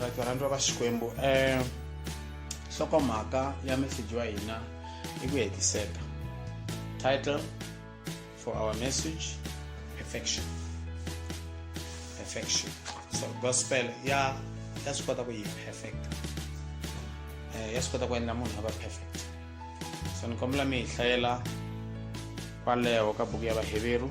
right varhandziwa va xikwembu um eh, nhlokomhaka ya meseji wa hina i ku hetiseka title for our message affection affection so gospel ya ya swi kota ku yi perfect um ya swi kota ku endla munhu a va perfect so ni kombela mi hi hlayela kwaleho ka buku ya vaheveru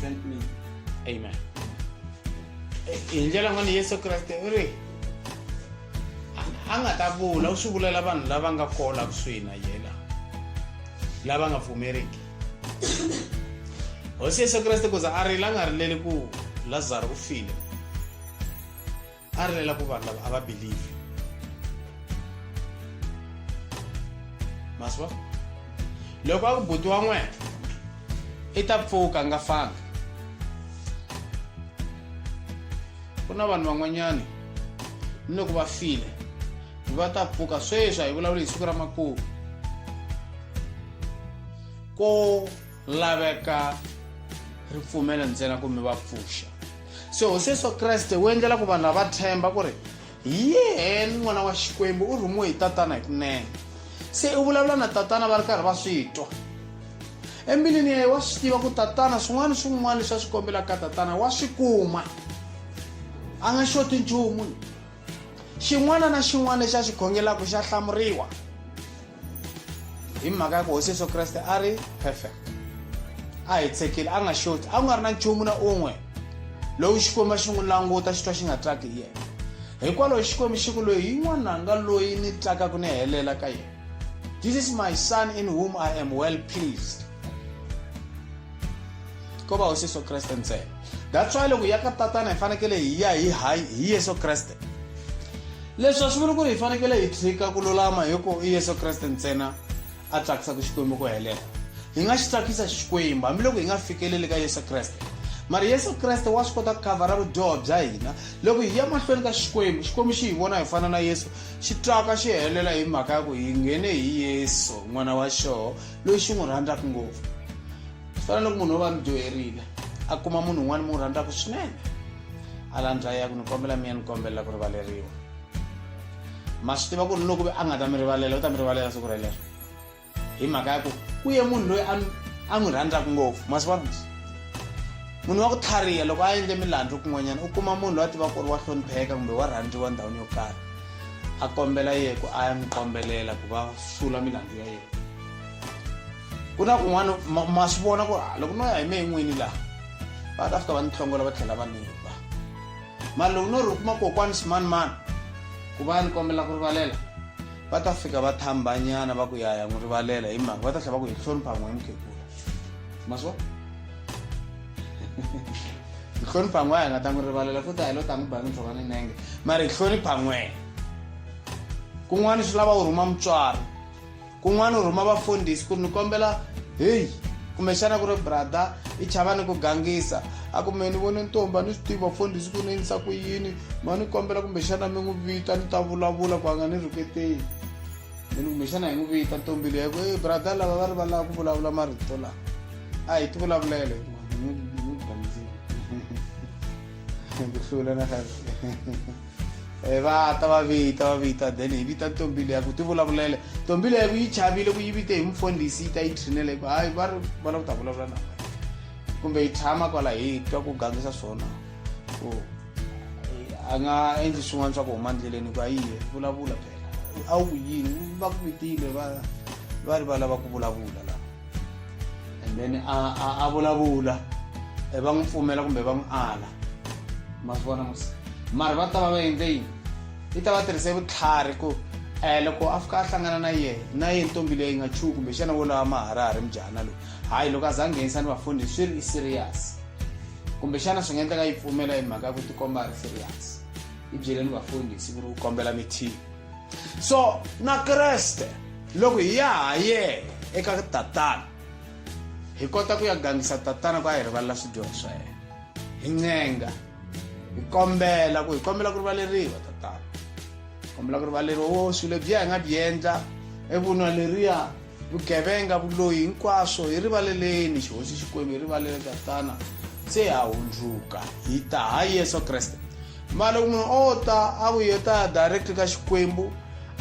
sent me. Amen. Eh, hi ndlela n'wana yesu kreste u ri a nga ta vula u swi vulela vanhu lava nga kona kusuhi na yena lava nga pfumeriki hosi yesu kreste ku za a rila a nga rileli ku lazaro u file a ri lela ku vanhu lava a va believe maswa loko a ku buti wa n'wena i ta pfuka a nga fanga ku na vanhu van'wanyani ni loko va file va ta pfuka sweswi a hi vulavuli hi siku ra makumu ko laveka ripfumelo ntsena ku mi va pfuxa se hosi yesu kreste wu endlela ku vanhu lava themba ku ri hi yeheni n'wana wa xikwembu u rhumiwe hi tatana hi kunene se u vulavula na tatana va ri karhi va swi twa embilwini ya ye wa swi tiva ku tatana swin'wana swin'wana leswi a swi kombelaka ka tatana wa swi kuma a nga xoti nchumu xin'wana na xin'wana lexi a xi khongelaka xa hlamuriwa hi mhaka ya ku hosi yesu kreste a ri perfect a hi tshekile a nga xoti a ku nga ri na nchumu na un'we lowu xikwembu a xi n'wi languta xi twa xi nga tsaki hi yena hikwalaho xikwembu xi ku loyi hi n'wananga loyi ni tsakaka ni helela ka yena this is my son in whom i am well pleased ko va hosi yesu kreste ntsena that's why loko ya ka tatana hi fanekele hi ya hi hi yesu kreste Leswi a swi vuli ku ri hi fanekele hi tshika ku lulama hi ku i Yesu Kreste ntsena a tsakisaka Xikwembu ku helela. Hi nga xi tsakisa Xikwembu hambiloko hi nga fikeleli ka Yesu Kreste. Mara Yesu Kreste wa swi kota ku khavhara vudyoho bya hina. Loko hi ya mahlweni ka Xikwembu, Xikwembu xi hi vona hi fana na Yesu, xi twaka xi helela hi mhaka ya ku hi nghene hi Yesu, N'wana wa xoho, loyi xi n'wi rhandzaka ngopfu. swi fana loko munhu wo va mi dyoherile a kuma munhu un'wana mi n'wi rhandzaka swinene a landza ya ku ni kombela mi ya ni kombela ku rivaleriwa ma swi tiva ku ri loko a nga ta mi rivalela u ta mi rivalela siku relero hi mhaka ya ku ku ye munhu loyi a n'wi rhandzaka ngopfu ma swi vona munhu wa ku tlhariha loko a endle milandzu kun'wanyana u kuma munhu loyi a tiva ku ri wa hlonipheka kumbe wa rhandziwa ndhawini yo karhi a kombela yeku a ya n'wi kombelela ku va sula milandzu ya yena ku na kun'wana ma swi vona ku ah, loko no ya hi me n'wini laha va ta fika va ni tlhongola va tlhela va ni ba mara loko no ri kuma kokwani swimanimani ku va ni kombela ku rivalela va ta fika va thambanyana va ku yaya n'wi rivalela hi mhaka va ta tlhela va ku hi hlonipha n'we hi mukhegula ma swi vona hi hlonipha n'we a hi nga ta n'wi rivalela futi a hi lo ta n'wi ba ni tlhova ni nenge mara hi hlonipha n'wena kun'wana swi lava u rhuma mutswari kun'wana u rhuma vafundhisi ku ni kombela heyi kumbexana ku ri brother i chava ni ku gangisa a ku me ni vone ntombi a ni swi tivi vafundhisi ku ni endlisa ku yini ma ni kombela kumbexana mi n'wi vita ni ta vulavula ku a nga ni rhuketeli ni ni kumbexana hi n'wi vita ntombi leyi ku e brother lava va ri va lava ku vulavula marito lawa a hi ti vulavulele ni gangizile ku hlula na Eh, va ta va vita va vita then hi vita ntombi leyi ku ti vulavulele ntombi leyi ku yi chavile ku yi vite hi mufundhisi yi ta yi trinele ku hayi va ri va la ku ta vulavula na kumbe yi tshama kwala hi twa ku gangisa swona ku a nga endli swin'wana swa ku huma ndleleni ku a yiye vulavula phela a wu ku yini va ku vitile va va ri va lava ku vulavula la and then a a vulavula eh, va n'wi pfumela kumbe va n'wi ala ma swi vona musi mara va ta va va endle yini yi ta va tirhise vutlhari ku um loko a fika a hlangana na yena na yena ntombi leyi nga chuku kumbe xana wo lawa maharahari mujahana loyi hayi loko a za a nghenisa ni vafundi swi ri i serious kumbe xana swi nga endleka yi pfumela hi mhaka ya ku tikomba a ri serious yi byeleni vafundi hi siku ri ku kombela mithihi so na kreste loko hi ya ha yena eka tatana hi kota ku ya gangisa tatana ku a hi rivalela swidyoho swa yena hi ncenga hi kombela ku hi kombela ku rivaleriwa tatana kombela ku rivaleriwa wo swilo lebyiya hi nga byi endla evunwa leriya vugevenga vuloyi hinkwaswo hi rivaleleni xihosi xikwembu hi rivalele tatana se ha hundzuka hi ta ha yesu kreste mara loko munhu o ta a ku yo ta direct ka xikwembu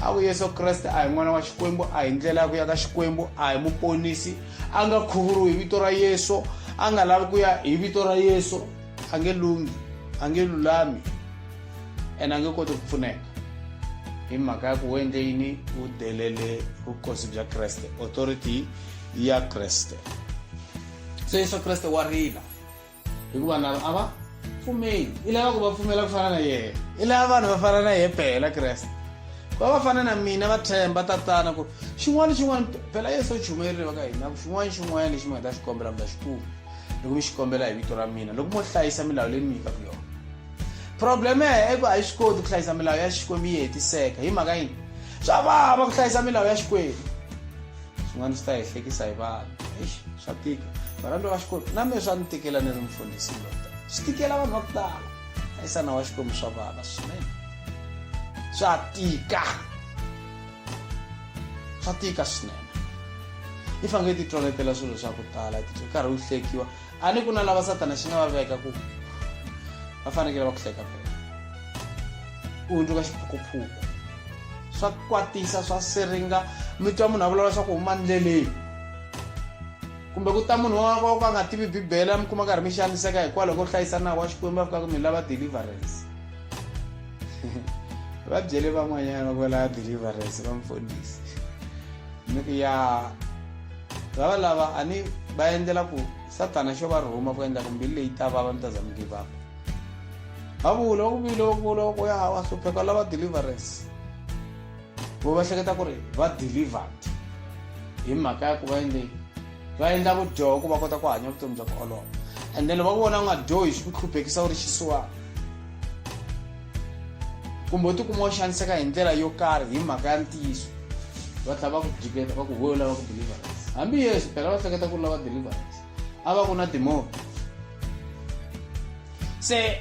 a ku yesu kreste a hi n'wana wa xikwembu a hi ndlela ya ku ya ka xikwembu a hi muponisi a nga khuvuriwi hi vito ra yesu a nga lavi ku ya hi vito ra yesu a nge lunghi a nge lulami ene a nge koti ku pfuneka hi mhaka ya ku wo endle yini wu delele vukosi bya kreste authority ya kreste se yesu kreste wa rila hikuva na a va pfumeli i lava ku va pfumela ku fana na yena i lava vanhu va fana na yena phela kreste va va fana na mina va themba tatana ku xin'wana xin'wana phela yesu u chumerile va ka hina ku xin'wana xin'wana lexi mi nga ta xi kombela mi ta xi kuma loko mi xi kombela hi vito ra mina loko mo hlayisa milawu leyi ni mi nyikaka yona probleme i ku a yi swi koti ku hlayisa milawu ya xikwembu yi hetiseka hi mhaka yini swa vava ku hlayisa milawu ya xikwembu swin'wana swi ta hi hlekisa hi vanhu eish swa tika varhandza va xikwembu na mina swa ni tikela ni ri mfundhisi lota swi tikela vanhu va ku tala hlayisana wa xikwembu swa vava swinene swa tika swa tika swinene i fange ti twaletela swilo swa ku tala ti karhi u hlekiwa a ni ku na lava satana xi nga va veka ku va fanekele va ku hleka fela u hundzuka xiphukuphuku swa kwatisa swa siringa mi twa munhu a vulavula swa ku huma ndleleni kumbe ku ta munhu wa ka ka nga tivi bibele mi kuma karhi mi xaniseka hikwalaho ko hlayisa nawu wa xikwembu a fikaka mi lava deliverance va byele van'wanyana va kwala deliverance va mfundhisi ni ku ya lava lava a ni va endlela ku satana xo va rhuma ku endla ku mbilu leyi ta vava mi ta za mi give up va vula va ku vile va vula va ku ya wa hlupheka lava deliverance vo va hleketa ku ri va delivered hi mhaka ya ku va endle va endla vudyoho ku va kota ku hanya vutomi bya ku olova and then va ku vona u nga dyohi swi ku hluphekisa u ri xisiwana kumbe u tikuma u xaniseka hi ndlela yo karhi hi mhaka ya ntiyiso va tlha va ku jiketa va ku huwe lava ku deliverance hambi yesu phela va hleketa ku ri lava deliverance a va ku na timoni se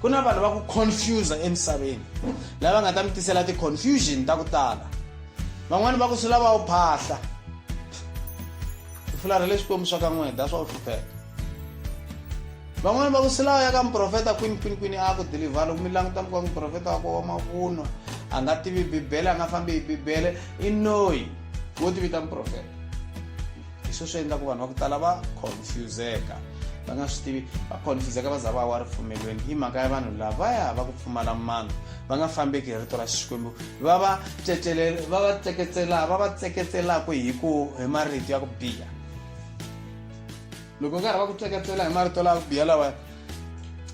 ku na vanhu va ku confusa emisaveni lava nga ta mi tisela ti-confusion ta ku tala van'wani va ku swi lava u phahla fulara le swikwembu swa ka n'wini that's why u hlupheka van'wani va ku swi lava ya ka muprofeta kwini kwini kwini a ku dilivha loko mi languta mi ka muprofeta wako wa mavunwa a nga tivi bibele a nga fambi hi bibele i noyi wo tivita muprofeta hi swo swi endlaku vanhu va ku tala va confuseka va nga swi tivi va confuseka va za va wa ripfumelweni i mhaka ya vanhu lavaya va ku pfumala mano va nga fambeki hi rito ra xikwembu va va va va tseketsela va va tseketselaku hi ku hi marito ya ku biha loko nkarhi va ku tseketsela hi marito lawa ku biha lawaya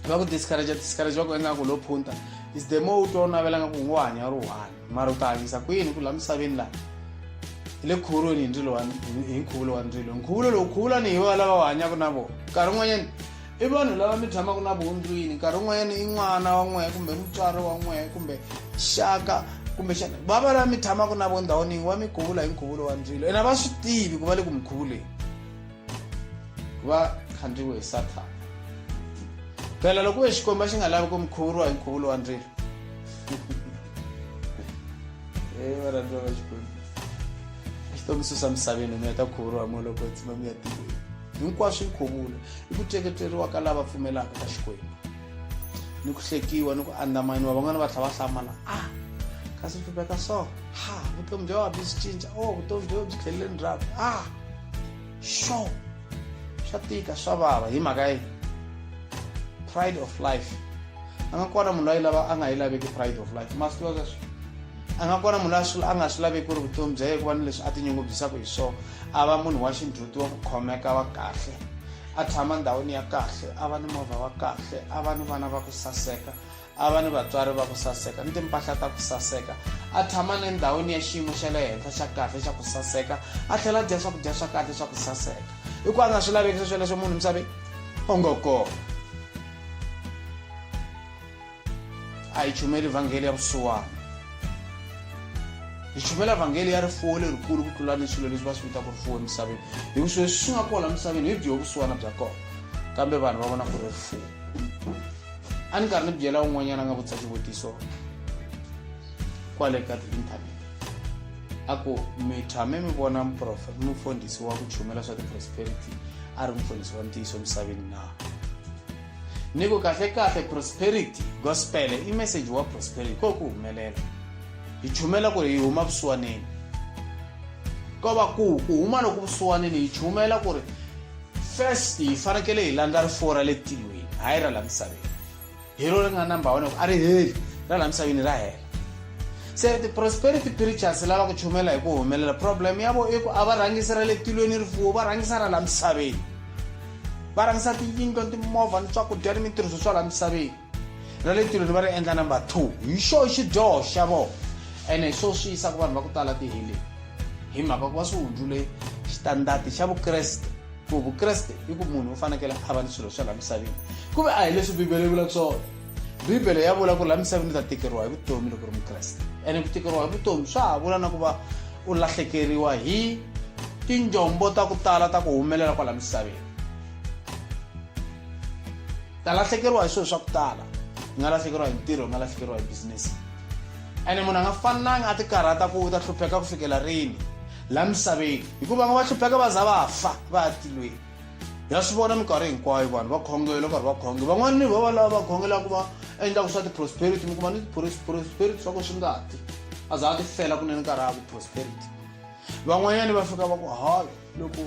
va ku discourage discourage va ku endla ku lo phunta is the more u twa u navela nga ku ngo hanya ri one mara u ta hanyisa ku yini ku la misaveni laha hi le khuvulweni hi ndzilo wa hi nkhuvulo wa ndzilo nkhuvulo lowu khuvulani hi va lava va hanyaka na vona nkarhi un'wanyani i vanhu lava mi tshamaka na voho ndlwini nkarhi un'wanyani i n'wana wa n'wehe kumbe mutswari wa n'wehe kumbe xaka kumbe xana va va lava mi tshamaka na vo ndhawini yin'we wa mi khuvula hi nkhuvulo wa ndzilo ene a va swi tivi ku va le ku mi khuvuleni ku va khandziwe hi sathana phela loko ku ve xikwembu a xi nga lavi ku mi khuvuriwa hi nkhuvulo wa ndzilo Eh, varandwa vachikoni xitongisusa misaveni mi heta ku khuvuriwa moloko tsima mi ya tikweni hinkwaswo i nkhuvulo i ku teketeriwa ka lava pfumelaka ka xikwembu ni ku hlekiwa ni ku andamaniwa van'wana va tlha va hlamala a ah, kasi swi veka so ha vutomi bya wa byi swi cinca o oh, vutomi byo byi tlhelele ndzhaku a ah. sure swa tika swa vava hi mhaka yi pride of life a nga kona munhu loyi lava a nga yi laveki pride of life ma swi tiva sweswo a nga kona munhu loyi a nga swi laveki ku ri vutomi bya ye ku va ni leswi a tinyungubyisaka hi swona a va munhu wa xindhuti wa ku khomeka wa kahle a tshama ndhawini ya kahle a va ni movha wa kahle a va ni vana va ku saseka a va ni vatswari va ku saseka ni timpahla ta ku saseka a tshama ni ndhawini ya xiyimo xa le henhla xa kahle xa ku saseka a tlhela a dya swakudya swa kahle swa ku saseka hi ku a nga swi laveki sweswo leswo munhu misaveni o ngo kona a hi chumeli vhangeli ya vusiwana hi chumela vhangeli ya rifuwo lerikulu ku tlula ni swilo leswi va swi vitaka rifuwo emisaveni hi ku swilo swi nga kona emisaveni hi byo vusiwana bya kona kambe vanhu va vona ku ri rifuwo a ni karhi ni byela un'wanyana a nga vutisa xivutiso kwale ka ti-internet a ku mi tshame mi vona mufundhisi wa ku chumela swa ti-prosperity a ri mufundhisi wa ntiyiso emisaveni na ni ku kahlekahle prosperity gospel i message wa prosperity ko ku humelela hi chumela ku ri hi huma vusiwaneni ko va ku ku huma loku vusiwanini hi chumela ku ri first hi fanekele hi landza rifuwo ra le tilweni hayi ra la misaveni hi ro ri nga number one a ri heli ra la misaveni ra hela se ti-prosperity preachers lava ku chumela hi ku humelela problem ya vo i ku a va rhangisi ra le tilweni rifuwo va rhangisa ra la misaveni va rhangisa tiyindlo ni timovha ni swakudya ni mintirhiso swa la misaveni na le tilweni va ri endla number two hi xo xidyoho xa vona ene hi swo swi yisa ku vanhu va ku tala tiheleni hi mhaka ku va swi hundzule xitandati xa vukreste ku vukreste i ku munhu u fanekele a va ni swilo swa laha misaveni ku ve a hi leswi bibele yi vulaka swona bibele ya vula ku laha misaveni u ta tikeriwa hi vutomi loko ri mukreste ene ku tikeriwa hi vutomi swa ha vula na ku va u lahlekeriwa hi tinjombo ta ku tala ta ku humelela kwala misaveni ta lahlekeriwa hi swilo swa ku tala u nga lahlekeriwa hi ntirho u nga lahlekeriwa hi bizinesi ene munhu a nga fanelanga a ti karhata ku u ta hlupheka ku fikela rini la misaveni hikuva nga va hlupheka va za va fa va ya tilweni ya swi vona minkarhi hinkwayo vanhu va khongela karhi va khonge van'wana ni vava lava va khongela ku va endlaka swa ti-prosperity mi kuma ni ti-prosperity swa ku swi nga ti a za a ti fela kunene nkarhi a ku prosperity van'wanyani va fika va ku hayi loko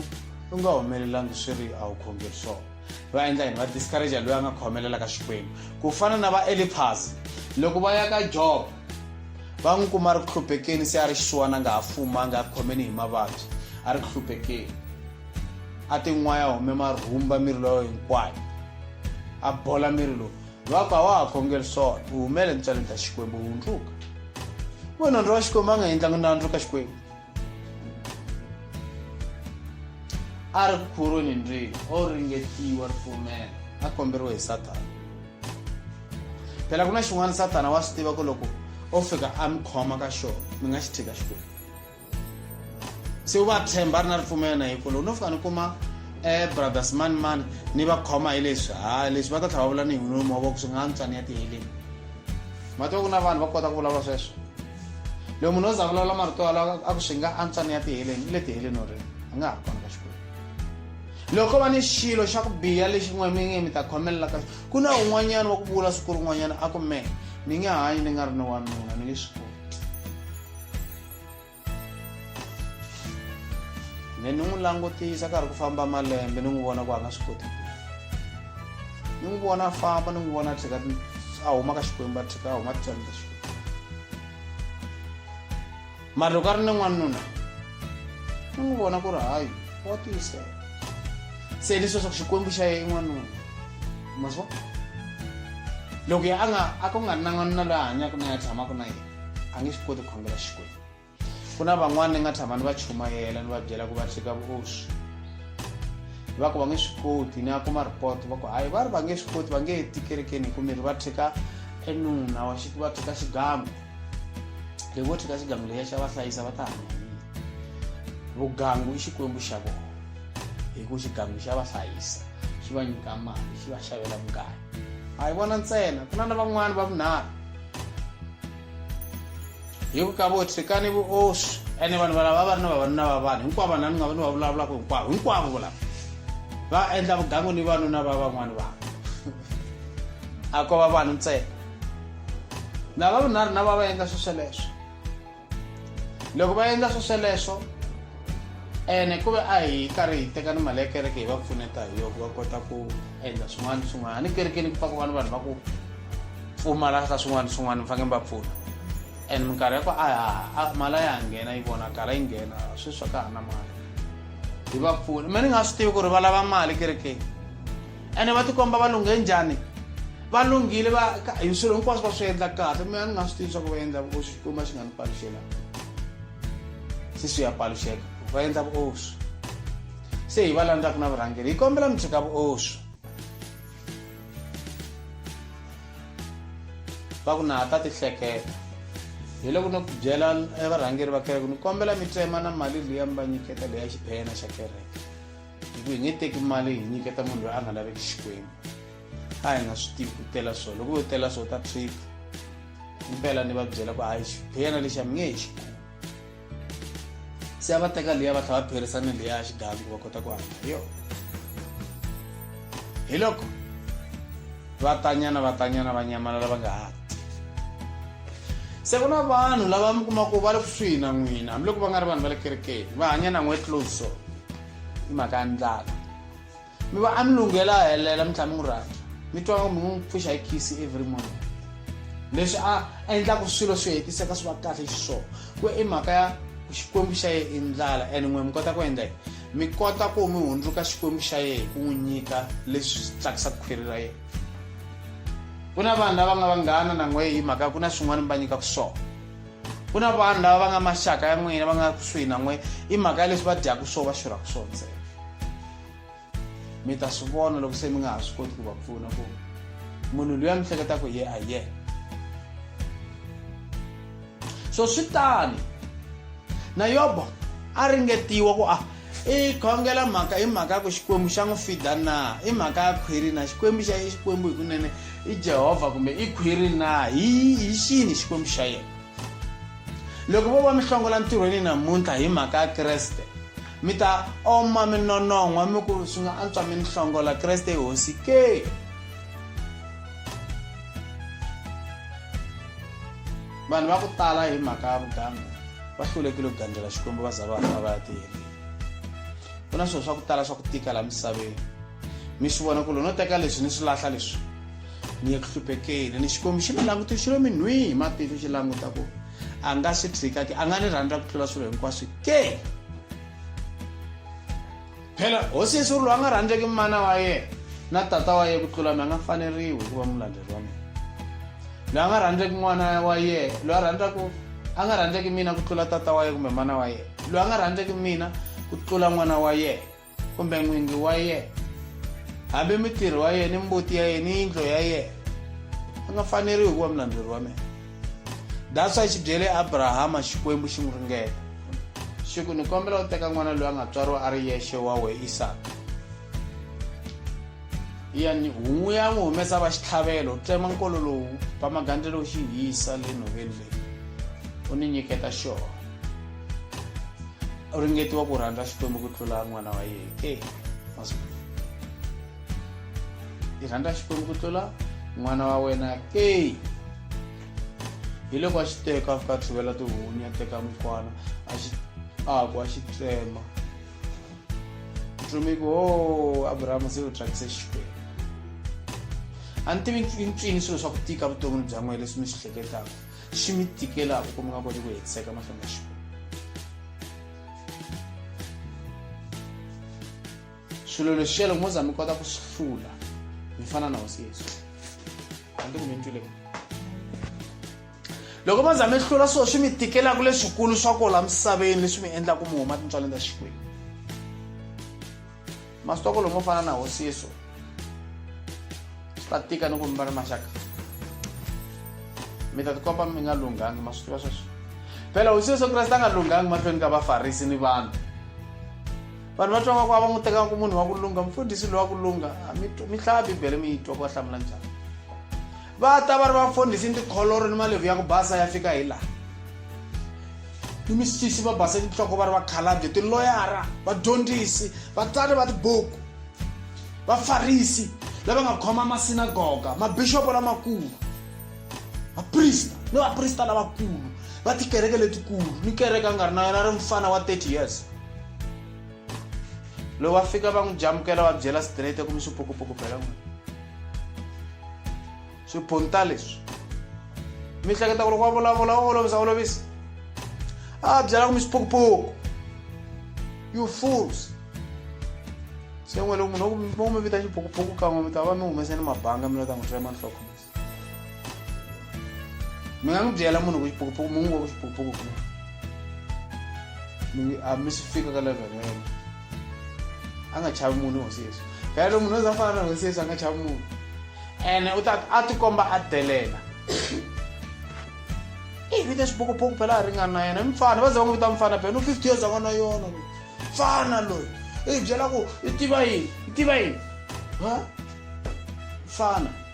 u nga humelelangi swi ri a wu khongeri swona va endla yini va discouragea loyi a nga khomelela ka xikwembu ku fana na va eliphas loko va ya ka job va n'wi kuma ri ku hluphekeni se a ri xisiwana a nga ha fuma a nga khomeni hi mavabyi a ri ku hluphekeni a tin'waya hume marhumba miri loyo hinkwayo a bola miri lowu va ku a wa ha khongeri swona u humele ntswaleni ta xikwembu hundzuka munhu ndzi wa xikwembu a nga endlangi nandzu ka xikwembu a ri khuruni ndri o ringetiwa ripfumelo a komberiwe hi sathana phela ku na xin'wana sathana wa swi tiva ku loko o fika a mi khoma ka xona mi nga xi tshika xikwembu se u va tshemba a ri na ripfumelo na hi ku loko no fika ni kuma um brothers mani mani ni va khoma hi leswi ha leswi va ta tlhela va vula ni hi nomo wa voko swi nga ni tswani ya tiheleni ma tiva ku na vanhu va kota ku vulavula sweswo loyi munhu o za vulavula marito yalawo a ku swi nga antswa ni ya tiheleni i le tiheleni o ri a nga ha ri kona ka xikwembu loko ko va ni xilo xa ku biha lexi n'we mi nge mi ta khomelela ka ku na un'wanyana wa ku vula siku rin'wanyana a ku me ni nge hanyi ni nga ri ni wanuna ni nge swi koti ne ni n'wi langutisa karhi ku famba malembe ni n'wi vona ku a nga swi koti ni n'wi vona a famba ni n'wi vona a tlheka a huma ka xikwembu a tlheka a huma titswani ta xikwembu mari loko a ri ni n'wanuna ni n'wi vona ku ri hayi wa tiyisela se ni sweswaku xikwembu xa ye i n'wanuna ma swi vona loko ya a nga a ku nga ri na n'wanuna loyi a hanyaka na ya tshamaka na yena a nge swi koti ku khongela xikwembu ku na van'wana ni nga tshama ni va chumayela ni va byela ku va tshika vuoswi va ku va nge swi koti ni a kuma report va ku hayi va ri va nge swi koti va nge he tikerekeni hi ku miri va tshika enuna wa xi va tshika xigangu leyi vo tshika xigangu leyi ya xa va hlayisa va ta hanya vugangu i xikwembu xa vona hi ku xigangu xa va hlayisa xi va nyika mali xi va xavela mugayo a hi vona ntsena ku na na van'wani va vunharhu hi ku ka vo tshikani vuoswi ene vanhu valava va va ri na vavanuna va vanhu hinkwavo vanhu ni nga va ni va vulavulaka hinkwavo hinkwavo volava va endla vugangu ni vanuna va van'wani vanhu a ko va vanhu ntsena na vavinharhu na va va endla swo sweleswo loko va endla swo sweleswo ene ku ve a hi karhi hi teka ni mali ya kereke hi va pfuneta hi yo ku va kota ku endla swin'wana ni swin'wana ni kerekeni ku pfaka vanhu vanhu va ku pfumala ka swin'wana ni swin'wana mi fanekele mi va pfuna and minkarhi ya ku a ya mali a ya ha nghena yi vonakala yi nghena sweswi ka ha na mali hi va pfuna me ni nga swi tivi ku ri va lava mali kerekeni ene va tikomba va lunghe njhani va lunghile va hi swilo hinkwaswo va swi endla kahle mina ni nga swi tivi swa ku va endla vuoswi xikwembu a xi nga ni paluxela se swi ya paluxeka va endla vuoswi se hi va landzaka na vurhangeri hi kombela mi tshika vuoswi va ku na ha ta tihleketa hi loko no byela varhangeri va kereke ni kombela mi tsema na mali leyi mi va nyiketa leyi ya xiphena xa kereke hi ku hi nge teki mali hi nyiketa munhu loyi a nga laveki xikwembu a hi nga swi tivi ku tela swo loko yo tela swo ta trip impela ni va byela ku hayi xiphena lexi a mi nge hi xi se a va teka liya va tlhela va pherisa ni liya ya xigangu va kota ku hanya hi yona hi loko va tanyana va tanyana va nyamalala va nga ha ti se ku na vanhu lava mi kuma ku va le kusuhi na n'wina hambiloko va nga ri vanhu va le kerekeni va hanya na n'we close so hi mhaka ya ndlala mi va a mi lunghela a helela mi tlhela mi n'wi rhandza mi twa mi n'wi pfuxa hi khisi every morning leswi a endlaka swilo swi hetiseka swi va kahle xiswona ku i mhaka ya xikwembu xa yena i ndlala and n'we mi kota ku endla yini mi kota ku mi hundzuka xikwembu xa yena hi ku n'wi nyika leswi tsakisaka khwiri ra yena ku na vanhu lava nga vanghana na n'we hi mhaka ku na swin'wana mi va nyikaka swona ku na vanhu lava va nga maxaka ya n'wina va nga kusuhi na n'we i mhaka ya leswi va dyaka swo va xurhaka swo ntsena mi ta swi vona loko se mi nga ha swi koti ku va pfuna ku munhu loyi a mi hleketa ku ye a ye so swi tani na yobo a ringetiwa ku a ah, i khongela mhaka i mhaka ya ku xikwembu xa n'wi fida na i mhaka ya khwiri na xikwembu xa xikwembu hi kunene i jehovha kumbe i khwiri na hi hi xini xikwembu xa yena loko vo va mi hlongola ntirhweni namuntlha hi mhaka ya kreste mi ta oma mi nonon'hwa mi ku swi nga antswa mi ni hlongola kreste i hosi ke vanhu va ku tala hi mhaka ya vugangu va hlulekile ku gandzela xikwembu va za va fa va ya tiyeleni ku na swilo swa ku tala swa ku tika laha misaveni mi swi vona ku lo no teka leswi ni swi lahla leswi ni le ku hluphekeni ni xikwembu xi ni langutixilo minhwihi hi matihlo xi languta ku a nga swi tshika ke a nga ni rhandza ku tlula swilo hinkwaswo ke phela hosi yesu ri loyi a nga rhandzeki mana wa yena na tata wa yena ku tlula mi a nga faneriwi hi ku va mulandzeri wa mina loyi a nga rhandzeki n'wana wa yena loyi a rhandzaka a nga rhandzeki mina ku tlula tata wa yena kumbe mana wa yena loyi a nga rhandzeki mina ku tlula n'wana wa yena kumbe n'wingi wa yena hambi mitirhi wa yena ni mbuti ya yena ni yindlo ya yena a nga faneriwi ku va mulandzeri wa mina that's why xi byele abrahama xikwembu xi n'wi ringeta xi ku ni kombela u teka n'wana loyi a nga tswariwa a ri yexe wa we isaka yani hun'wu ya n'wi humesa va xitlhavelo u tsema nkolo lowu va magandza lowu xi hisa le nhoveni leyi u ni nyiketa xona u ringetiwa ku rhandza xikwembu ku tlula n'wana wa yena e i rhandza xikwembu ku tlula n'wana wa wena ke hi loko a xi teka a fika a tshuvela tihunyi a teka mukwana a xi aku a xi tsema ntsumi ku o oh, abrahama se u thyakise xikwembu a ni tivi ncini swilo swa ku tika vuton'wini bya n'wina leswi mi swi hleketaka swi mi tikelaka ku mi nga koti ku hetiseka mahlweni ka xikwembu swilo leswi xelo mo za mi kota ku swi hlula mi fana na hosi yesu hambi ku mi ntwile loko mo za mi hlula swilo swi mi tikelaka leswikulu swa ku la misaveni leswi mi endlaka mi huma tintswaleni ta xikwembu masitokolo mo fana na hosiso swi ta tika ni ku mi va ri maxaka mi ta tikomba mi nga lunghangi ma swi tiva sweswo phela hosi yesu kreste a nga lunghangi mahlweni ka vafarisi ni vanhu vanhu va twa nga ku a va n'wi tekanga ku munhu wa ku lungha mfundhisi loyi wa ku lungha mi hlaya bibele mi yi twa ku va hlamula njhani Va ta va ri vafundhisi ni tikholoro ni malevhu ya ku basa ya fika hi laha. Ni misisi va base tinhloko va ri vakhalabye, tiloyara, vadyondzisi, vatsari va tibuku, vafarisi lava nga khoma masinagoga, mabixopo lamakulu, vaprista ni vaprista lavakulu va tikereke letikulu ni kereke a nga ri na yona a ri mfana wa 30 years. loko va fika va n'wi jamukela va byela straight ku mi swipukupuku phela n'wina swiphunta leswi mi hleketa ku loko wa vulavula wa olovisa olovisa a byela ku mi swipukupuku you fools se n'we loko munhu mi vita xipukupuku kan'we mi ta va mi humese ni mabanga mi lo ta n'wi tsema nhloko mi nga n'wi byela munhu ku xipukupuku mi n'wi ngo ku xipukupuku ku a mi swi fika ka level ya yena a nga chavi munhu hosi yesu phela lo munhu o za fana na hosi yesu a nga chavi munhu ene u ta a tikomba a delela i vita xipukupuku phela a ringana na yena i mfana va za va n'wi vita mfana phela no fifty years a nga na yona loyi mfana loyi i byela ku i tiva yini i tiva yini ha mfana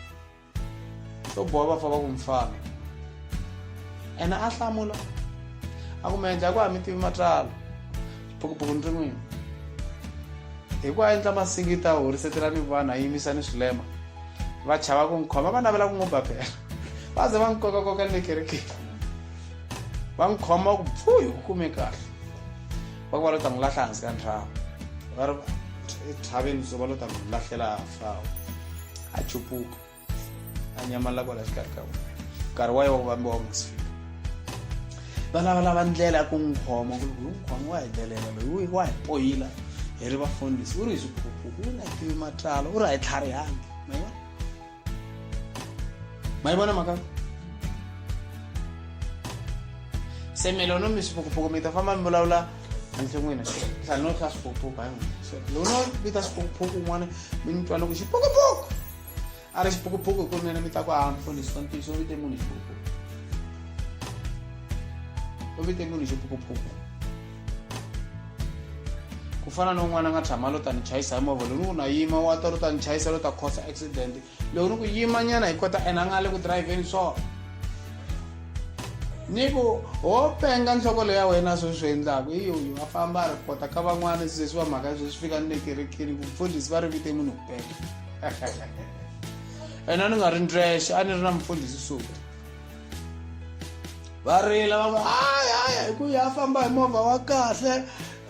swo boha va fa va ku mfana ene a hlamula a ku mi endla ku ha mi tivi matswalo phukuphuku ni ri n'wini hi ku a endla masingita a horisetela ni vanhu a yimisa ni swilema va chava ku n'wi khoma va navela ku n'wi ba phela va ze va n'wi kokakoka ni le kerekeni va n'wi khoma ku pfu hi ku kume kahle va ku va lo ta n'wi lahla hansi ka ntlhava va ri ethaveni so va lo ta n'wi lahlela fawo a cupuka a nyamala kwala xikarhi ka vona nkarhi wa yona vambi wa musi va lavalava ndlela ya ku n'wi khoma ku ri n'wi khoma wa hi delela loyi wa hi poyila hi ri vafundhisi u ri hi swiphuphu u na tivi matlalo u ri a hi tlharihangi mayivona ma yi vona mhaka se milono mi swiphukuphuku mi ta famba mi vulavula ndzi n'wina sanoo swa swiphukuphuka hi n'wina lono vita swiphukuphuku un'wana mi ni twana ku xiphukuphuku a ri xiphukuphuku hi ku nene mi ta ku a mfundhisi wa ntiyiso u vite munhu xiphukuphuku u vite munhu xiphukuphuku ku fana na un'wana a nga tshama lo ta ni chayisa hi movha loni u na yima wa ta ro ta ni chayisa lo ta khosa accident loko ni ku yima nyana hi kota ena a nga le ku driveni so ni ku ho penga nhloko leya wena swi swi endlaku i uyu a famba a ri kota ka van'wana sesi va mhaka sweswi fika ni le kerekeni ku mfundhisi va ri vite munhu ku penga ena ni nga ri ndrexe a ni ri na mfundhisi suka va rila va ku hayi hayi hi ku ya famba hi movha wa kahle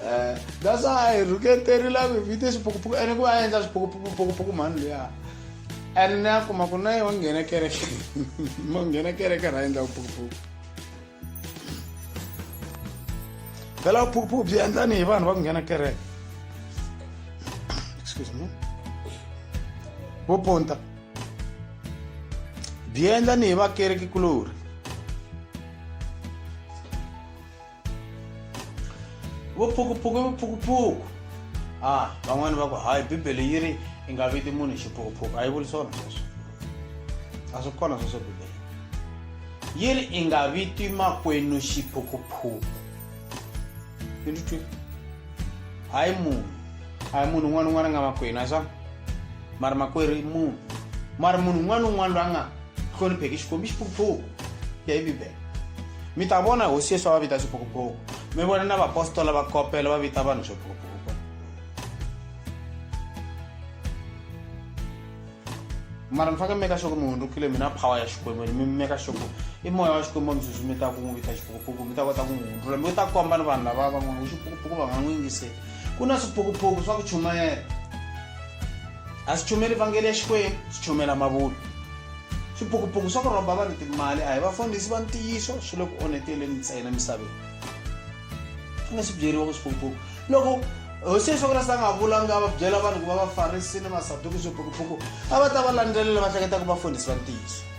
Eh, that's why I regret terila vhivhite swiphukuphuku ene ku va a endla swiphukuphukuphukuphuku mhani luya ene ni ya kuma ku na ye wa nghena kereke ma nghena kereke ra endla vuphukuphuku phela vuphukuphuku byi endlani hi vanhu va ku nghena kereke excuse me vo ponta byi endlani hi vakereki kulori vo phukuphuku vo phukuphuku a ah, van'wani va ku hayi bibele yi ri i nga viti munhu xiphukuphuku a yi vuli swona sweswo a swi kona sweswo bibele yi ri i nga viti makwenu xiphukuphuku yi ndzi twi hayi munhu a hi munhu un'wana un'wana a nga makwenu a swa mari makwerhu i munhu mari munhu un'wana un'wana loyi a nga hlonipheki xikwembu i xiphukuphuku ya yi bibele mi ta vona hosi yesu a va vita swiphukuphuku mi vona na vapostola va kopela va vita vanhu swiphukuphuku mara mi faneke mi meka sure ku mi hundzukile mi na power ya xikwembu mi meka sure ku i moya wa xikwembu mi sweswi mi ta ku n'wi vita xiphukuphuku mi ta kota ku n'wi hundzula mi ta komba ni vanhu lava van'wana ku xiphukuphuku va nga n'wi yingiseli ku na swiphukuphuku swa ku chumayela A swi chumeli vhangeli ya Xikwembu, swi chumela mavunwa. Swipukupuku swa ku rhomba vanhu timali a hi vafundhisi va ntiyiso swi le ku oneteleni ntsena misaveni. Swi nga swi byeriwa ku swipukupuku loko hosi Yesu Kreste a nga vulanga a va byela vanhu ku va vafarisi ni masaduki swipukupuku a va ta va landzelela va hleketa ku vafundhisi va ntiyiso.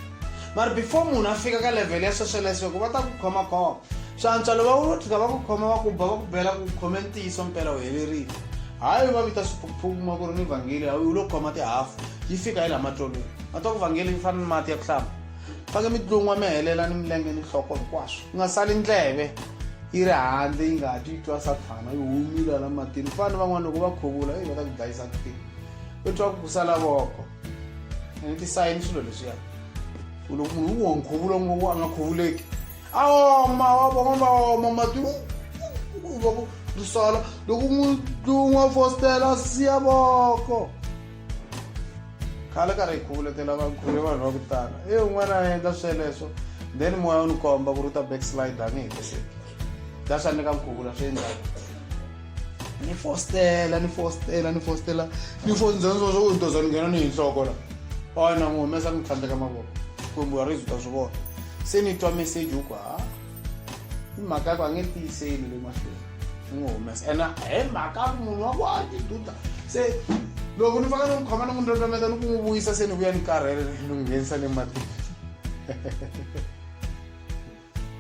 mari before munhu a fika ka level ya social esweko va ta ku khomakhoma swi antswa loko va tlhika va ku khoma va ku ba va ku bela ku khome ntiyiso mpela u helerile hayi va vita swiphukuphuku kuma ku ri ni vhangeli hayi u lo khoma tihafu yi fika hi laha matlolweni va ta ku vhangeli yi fana ni mati ya ku hlamba fange mi tlun'wa mi helela ni milenge ni nhloko hinkwaswo ku nga sali ndleve yi ri handle yi nga ha twi twa sathana yi humile la matini fani van'wana loko va khuvula eyi va ta ku dlayisa kutini u twa ku ku sala voko tisayini swilo leswiya u loko munhu u wo nkhuvulo ngopfu a nga khuvuleki a oma wa vona va oma mati u va ku ri sola loko n'wi tlun'wa fostela siya voko khale karhi hi khuvulekela vakhuve vanhu va ku tala e un'wana a endla sweleswo then moya u ni komba ku ri u ta backslide a nge hetiseki ta swa ni ka nkhuvulo swi endlaka ni fostela ni fostela ni fostela ni fosnzanzoo ntoza ni nghena ni hi nhloko la oy na n'wi humesa ni tlhandleka mavoko kumbe wa rizi ta swi vona se ni twa meseji u ku ha i mhaka yaku a nge tiyiseli le mahlweni ni n'wi humesa ene hi mhaka ku munhu wa ku a ti duda se loko ni faka ni n'wi khoma ni n'wi ndlondlometa ni ku n'wi vuyisa se ni vuya ni karhele ni n'wi nghenisa le matini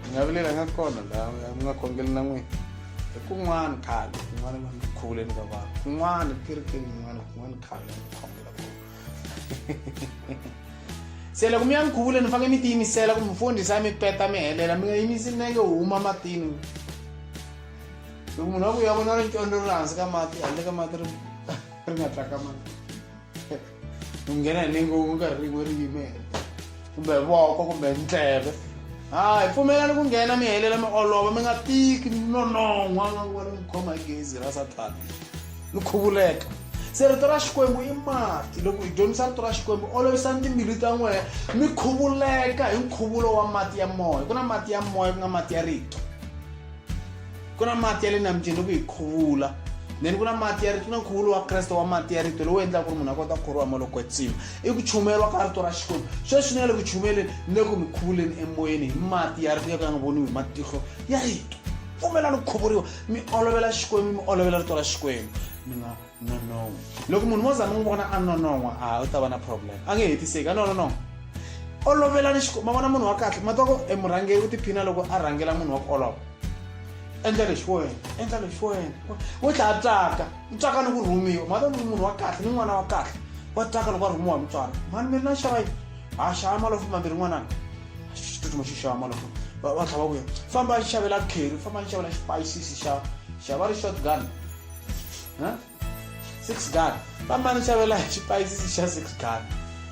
mi nga vilelanga kona laha mi nga khongeli na n'wina hi kun'wana khale kun'wana va mikhuvuleni ka vanhu kun'wana kerekeni yin'wana kun'wana khale mi khongela kona se loko mi ya mikhuvuleni mi fanele mi tiyimisela ku mufundhisi a mi peta mi helela mi nga yimisi nenge huma matini loko munhu wa ku ya vona ri ncondo ri hansi ka mati handle ka mati ri ri nga tlakamani u nghena hi ningo ku nga rin'we ri yimele kumbe voko kumbe ndleve hayi pfumelani ku nghena mi helela mi olova mi nga tiki nonon'hwa nga ku va mi khoma hi gezi ra sathana mi khuvuleka se rito ra xikwembu i mati loko hi dyondzisa rito ra xikwembu olovisani timbilu ta n'wehe mi khuvuleka hi nkhuvulo wa mati ya moya ku na mati ya moya ku nga mati ya rito ku na mati ya le nambyeni loko hi khuvula then ku na mati ya rito ku na nkhuvulo wa kreste wa mati ya rito lowu endlaka ku ri munhu a kota ku khoriwa maloko tsima i ku chumeriwa ka rito ra xikwembu sweswi ni nga le ku chumeleni ni le ku mi khuvuleni emoyeni hi mati ya rito ya ka ya nga voniwi hi matihlo ya rito pfumelani ku khuvuriwa mi olovela xikwembu mi olovela rito ra xikwembu mi nga nonon'wa loko munhu mo za mi n'wi vona a nonon'wa a u ta va na problem a nge hetiseki a nonon'wa olovelani xikwembu ma vona munhu wa kahle ma twa ku emurhangeri u tiphina loko a rhangela munhu wa ku olova endla lexi wo wena endla lexi wo wena wo tlhaya tsaka u tsaka ni ku rhumiwa ma twa ku munhu wa kahle ni n'wana wa kahle wa tsaka loko a rhumiwa hi mutswari mani mi ri na xava yini ha xava malofu mambirhi n'wanana xitsutsuma xi xava malofu va tlhava vuya famba xavela kheri famba ni xavela xipayisisi xa xava ri shotgun huh? six gal fambani xavela xipayisisi xa six gal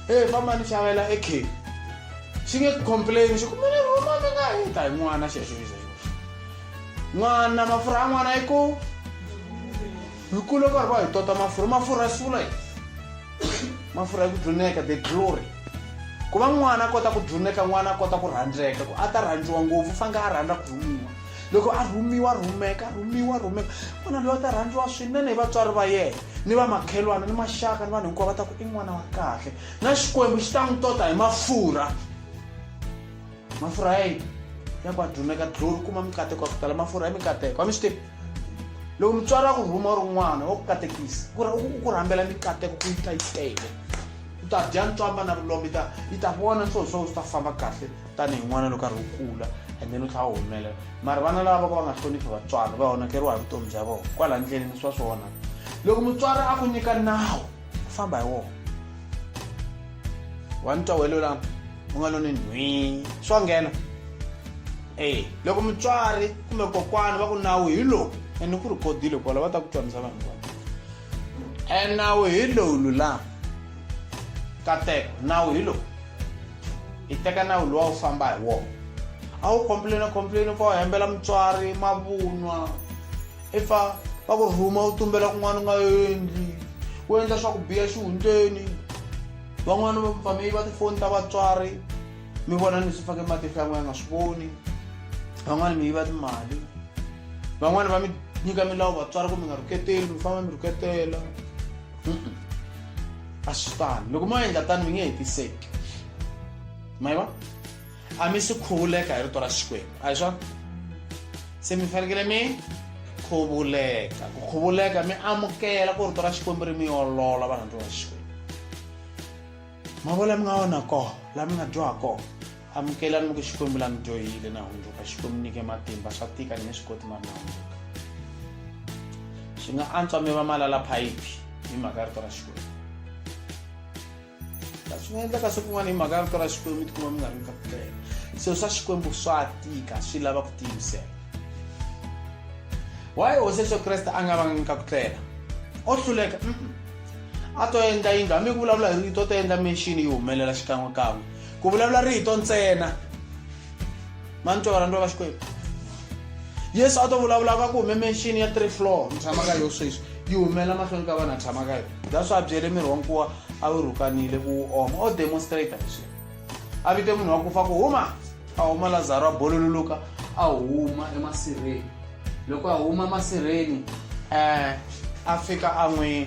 e fambani xavela e cake xi nge complain xi kumele rhuma mi nga yi ta hi n'wana xexoiza n'wana mafurha ya n'wana yi ku hi kule karhi va hi tota mafurha mafurha ya sula yi mafurha ya ku dluneka the glory ku va n'wana a kota ku dluneka n'wana a kota ku rhandzeka ku a ta rhandziwa ngopfu faneke a rhandza ku rhumiwa loko a rhumiwa rhumeka rhumiwa rhumeka n'wana loyi a ta rhandziwa swinene hi vatswari va yena ni va makhelwana ni maxaka ni vanhu hinkwavo va ta ku i n'wana wa kahle na xikwembu xi ta n'wi tota hi mafurha mafurha ya yini ya ku adumeka dlori kuma mikateko ya ku tala mafurha ya mikateko wa mi swi tivi loko mutswari wa ku rhuma ri n'wana wa ku katekisa ku ri u ku rhambela mikateko ku yi ta yi tele u ta dya ntswamba na vulombe yi ta yi ta vona ntsonso u ta famba kahle tanihi n'wana loko karhi u kula and then u tlhela u humelela mara vana lava va ka va nga hloniphi vatswari va onhakeriwa hi vutomi bya vona kwala ndleleni swa swi onhaka loko mutswari a ku nyika nawu u famba hi wona wa ni tawelo lama u nga loni nhwi swa nghena e loko mutswari kumbe kokwani va ku nawu hi lowu ene ku ri kodile kwala va ta ku twanisa vanhu va e nawu hi lowu lulama kateko nawu hi lowu hi teka nawu lowa wu famba hi wona a wu complaina complaina pfa u hembela mutswari mavunwa i pfa va ku rhuma u tumbela kun'wana u nga endli u endla swa ku biya xihundleni van'wana va pfa mi yiva tifoni ta vatswari mi vona ni swi fake matihlo yan'we ya nga swi voni van'wana mi yiva timali van'wana va mi nyika milawu vatswari ku mi nga rhuketeli mi famba mi rhuketela a swi fani loko mo endla tani mi nge hetiseki ma yi va a mi si khuvuleka hi rito ra xikwembu a hi swona se mi fanekele mi khuvuleka ku khuvuleka mi amukela ku rito ra xikwembu ri mi olola varhandziwa va xikwembu mavona mi nga wona koho laha mi nga dyoha koho amukelani mi ku xikwembu la mi dyohile na hundzuka xikwembu nyike matimba swa tika ni nge swi koti mari na hundzuka swi nga antswa mi va malala phayiphi hi mhaka ya rito ra xikwembu swi nga endleka siku n'wana hi mhaka ya rito ra xikwembu mi tikuma mi nga ri mi ka ku tlela swilo swa xikwembu swa tika swi lava ku tiyimisela waye hosi yesu kreste a nga vanga nyika ku tlela o hluleka a to endla yindlu hambi ku vulavula hi rito o to endla menxini yi humelela xikan'wekan'we ku vulavula rito ntsena mani twa varhandzi va xikwembu yesu a to vulavula ka ku hume menxini ya three floor ni tshama ka yo sweswi yi humela mahlweni ka vanhu a tshama ka yo that's why a byele miri wa nkuwa a wu rhukanile ku wu oma o demonstrata hi swilo a vite munhu wa ku fa ku huma a huma lazaro a bolololoka a huma emasirheni loko a huma masirheni um a fika a n'wi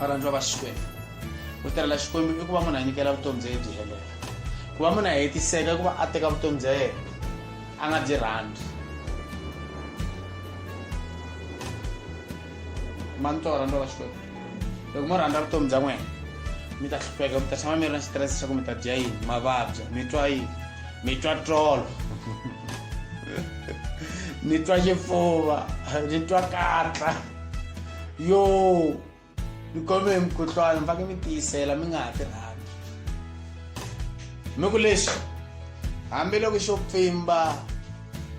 varandzi va va xikwembu ku tirhela xikwembu i ku va munhu a nyikela vutomi bya ye byi helela ku va munhu a hetiseka i ku va a teka vutomi bya yena a nga byi rhandzi mani to rhandza va xikwembu loko mo rhandza vutomi bya n'wena mi ta hlupheka mi ta tshama mi ri na xitirese xa ku mi ta dya yini mavabya mi twa yini mi twa tolo ni twa xifuva ni twa katla yo mi khome hi mukhuhlwana mi faneke mi tiyisela mi nga ha ti rhambi mi ku lexi hambiloko xo pfimba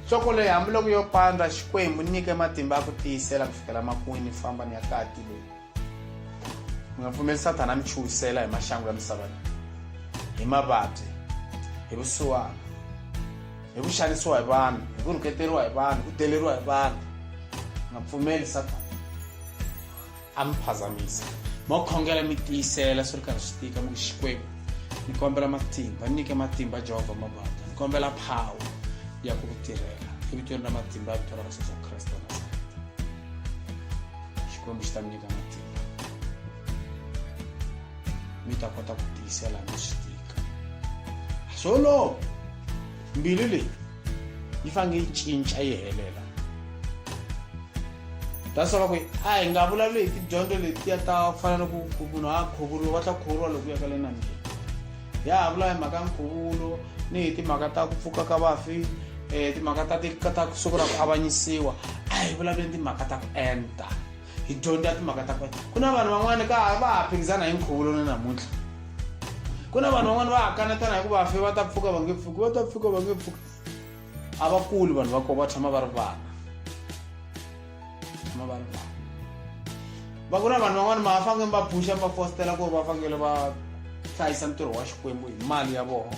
nhloko leyi hambiloko yo pandza xikwembu nyike matimba ya ku tiyisela ku fikela makwini famba ni ya kati leyi mi nga pfumeli sathana mi chuhisela hi maxangu ya misava leyi hi mavabyi hi vusiwana hi ku xanisiwa hi vanhu hi ku rhuketeriwa hi vanhu ku deleriwa hi vanhu nga pfumeli satana a mi phazamisa mo khongela mi tiyisela swi ri karhi swi tika mi ku xikwembu ni kombela matimba ni nyike matimba jehovha mabata ni kombela phawa ya ku ku tirhela evitweni ra matimba ya vito ra yesu kreste wa nazareta xikwembu xi ta mi nyika matimba mi ta kota ku tiyisela no swi tika swolo mbilu leyi yi fange yi cinca yi helela that's why va ku a hi nga vulavuli hi tidyondzo letiya ta ku fana ni ku munhu a khuvuriwa va ta khuvuriwa loko ya ka le nambyeni ya ha vula hi mhaka ya nkhuvulo ni hi timhaka ta ku pfuka ka vafi um timhaka ta ta siku ra ku avanyisiwa a hi vulavuleni timhaka ta ku enta hi dyondza timhaka ta kona ku na vanhu van'wana ka va ha phikizana hi nkhuvulo na namuntlha ku na vanhu van'wana va ha kanetana hi ku va fe va ta pfuka va nge pfuki va ta pfuka va nge pfuki a va kuli vanhu va kona va tshama va ri vana tshama va ri vana va ku na vanhu van'wana ma fange va phuxa va fostela ku ri va fanele va hlayisa ntirho wa xikwembu hi mali ya vona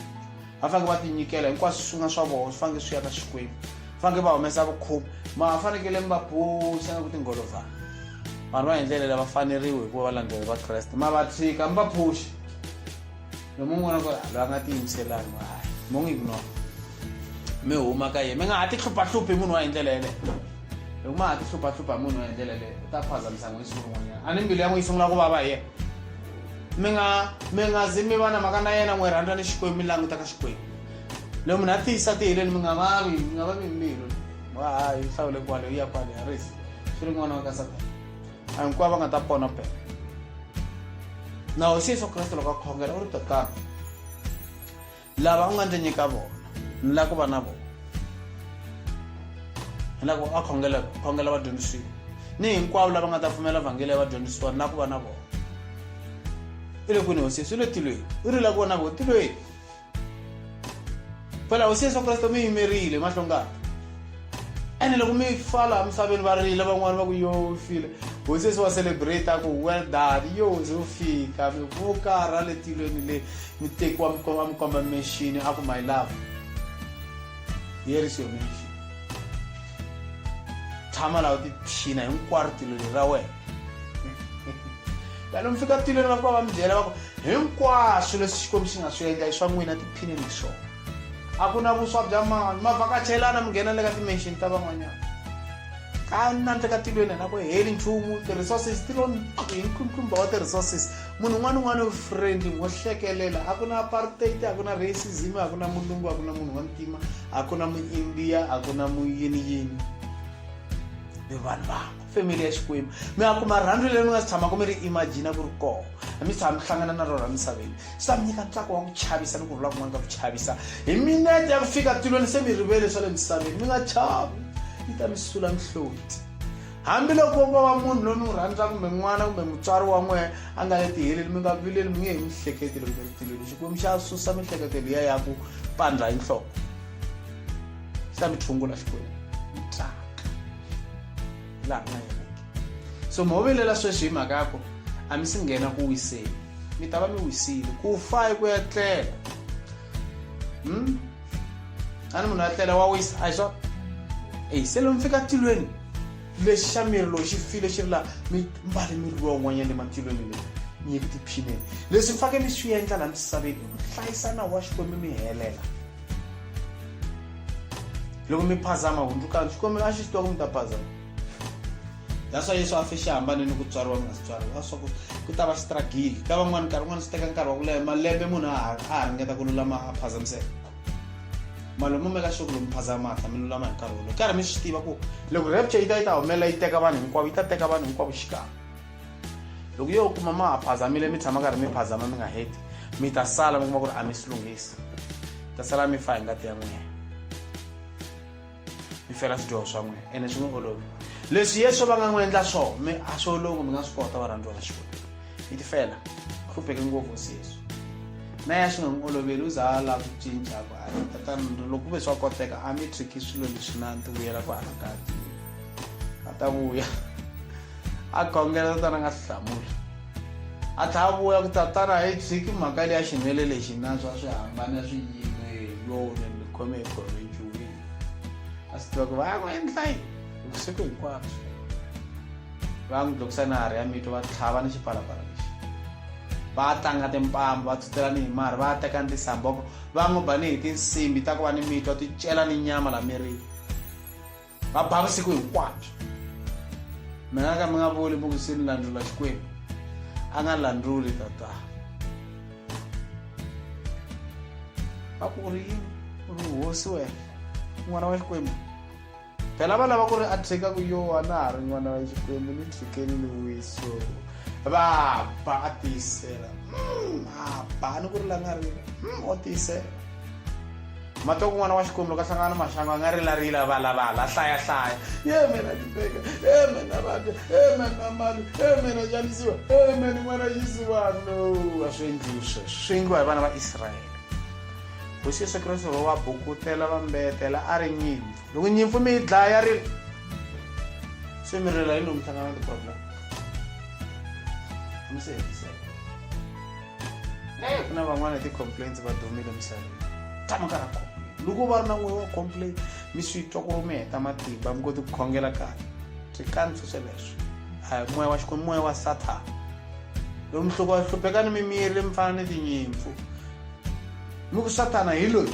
va fanekele va tinyikela hinkwaswo swi nga swa vona swi fanekele swi ya ka xikwembu fanekele va humesa vukhomi ma fanekele mi va phuxa na ku tingholovhana vanhu va hi ndlela leyi va faneriwe hikuva valandzeleri va kreste ma va tshika mi va phuxi lomu n'wana ku loyi a nga tiyimiselani hayi mo n'wi ignore mi huma ka yena mi nga ha ti hluphahluphi munhu wa hi ndlela yeleyo loko ma ha ti hluphahlupha munhu wa hi ndlela yeleyo u ta phazamisa n'wina siku rin'wanyana a ni mbilu ya n'wi yi sungula ku vava hi yena mi nga mi nga zi mi va na mhaka na yena n'wi rhandza ni xikwembu mi languta ka xikwembu loko munhu a tiyisa tihileni mi nga vavi mi nga vavi mbilu wa ha yi hlawule kwale yi ya kwale ya risi swi ri n'wana wa ka satana a hinkwavo va nga ta pona pela na hosi yesu kreste loko a khongela u ri tatana lava u nga ndzi nyika vona ni lava ku va na vona ni lava ku a khongela khongela vadyondzisiwa ni hinkwavo lava nga ta pfumela vhangeli ya vadyondzisiwa ni lava ku va na vona i le kwini hosi yesu i le tilweni i ri lava ku va na vona tilweni phela hosi yesu kreste mi yimerile mahlongana ene loko mi fa laha misaveni va rila van'wani va ku yo u file hosi se wa celebrate a ku well done yo ze u fika mi vuka ra le tilweni le mi tekiwa mi komba mi komba mexini a ku my love here is your mission tshama laha u tiphina hinkwaro tilo leri ra wena lani mi fika tilweni va fika va mi byela va ku hinkwaswo leswi xikwembu xi nga swi endla i swa n'wina tiphineni hi swona a ku na vuswa bya mani ma vhakachelana mi nghena le ka timension ta van'wanyana ka nandle ka tilweni hina ku heli nchumu ti-resources ti lo hi ntlumba wa ti-resources munhu un'wana un'wana u friendly wo hlekelela a ku na apartheid a ku na racism a ku na mulungu a ku na munhu wa ntima a ku na muindiya a ku na muyiniyini ni vanhu vangu family ya xikwembu mi nga kuma rhandzu leri mi nga si tshamaka mi ri imagina ku ri koho a mi tshama mi hlangana na rona misaveni swi ta mi nyika ntsako wa ku chavisa ni ku rhula kun'wana ka ku chavisa hi minete ya ku fika tilweni se mi rivele swa le misaveni mi nga chavi yi ta mi sula mihloti hambiloko ko va munhu loyi mi n'wi rhandzaka kumbe n'wana kumbe mutswari wa n'wehe a nga le tiheleli mi nga vileli mi nge hi mihleketelo kumbe ritilweni xikwembu xa susa mihleketelo ya ya ku pandza hi nhloko xi ta mi tshungula xikwembu laha nga yena so mi hovelela sweswi hi mhaka ya ku a mi si nghena ku wiseni mi ta va mi wisile ku fa hi ku ya tlela hmm? a ni munhu ya tlela wa wisa a hi swa eyi se lomi fika tilweni lexi xa miri lowu xi file xi ri laha mi mbale miri lowa un'wanyana le matilweni leyi nyiki tiphineni leswi mi fanekele mi swi endla laha misaveni i ku hlayisana wa xikwembu mi helela loko mi phazama hundzukani xikwemelo a xi swi tiva ku mi ta phazama that's why yesu a fe xi hambane ni ku tswariwa mi nga si tswariwa a swa ku ku ta va xi stragile ka van'wana nkarhi un'wana swi teka nkarhi wa ku leha malembe munhu a ha ringeta ku lulama a phazamiseka malomo mi ka xoko lomu phazama hatla mi lulama hi nkarhi wolowo karhi mi swi tiva ku loko rapture yi ta yi ta humelela yi teka vanhu hinkwavo yi ta teka vanhu hinkwavo xikan'we loko yo kuma ma ha phazamile mi tshama karhi mi phazama mi nga heti mi ta sala mi kuma ku ri a mi swi lunghisi ta sala mi fa hi ngati ya n'wina mi fela swidyoho swa n'wina ene swi n'wi olovi leswi yesu va nga n'wi endla swo mi a swi olovi mi nga swi kota varhandziwa va xikwembu mi ti fela hlupheke ngopfu hosi yesu na ya swi nga n'wi oloveli u za a lava ku cinca ku a tatana loko ku ve swa koteka a mi tshiki swilo leswi na ti vuyela ku anakati a ta vuya a khongela tatana nga si hlamula a tlha a vuya ku tatana hi tshiki mhaka leya xinwele lexi nanswa swi hambana swi yime yone ni khome hi khome nchuwini a swi tiva ku va ya ku endla yi vusiku hinkwabyo va n'wi dlokisa na hari ya mito va tlhava ni xipalapala lexi va tlanga timpambo va tsutela ni hi mari va teka ni tisamboko va n'wi ba ni hi tinsimbi ta ku va ni mito ti cela ni nyama la mirini va ba vusiku hinkwabyo mi nga ka mi nga vuli mi ku se ni landlula xikwembu a nga landluli tata va ku u ri yini u ri hosi wena n'wana wa xikwembu phela va lava ku ri a tshika ku yowa na ha ri n'wana wa xikwembu ni tshikeni ni wiso va ba a tiyisela mm, a ba ni ku ri la nga ri mm, o tiyisela Matoko n'wana wa Xikwembu loko a hlangana ni maxangu a nga rilarila a valavala a hlayahlaya ye mina ni beka e mina vabya e mina mani e mina xanisiwa e mina n'wana xisivano a swi endliwi sweswo swi endliwa hi vana va israyele hosi yesu kreste va va bukutela va mbetela a ri nyimpfu loko nyimpfu mi yi dlaya ri se mi rila yini loko mi hlangana na ti-problem mi se hetiseka ku na van'wana hi ti-complaints va dumile emisaveni tshama ka ra complain loko va ri na n'we wa complain mi swi twa ku ri mi heta matimba mi koti ku khongela kahle swi kanisa sweleswo a hi moya wa xikwembu moya wa sathana lomu hloko hluphekani mi miyele mi fana ni tinyimpfu mi ku sathana hi loyi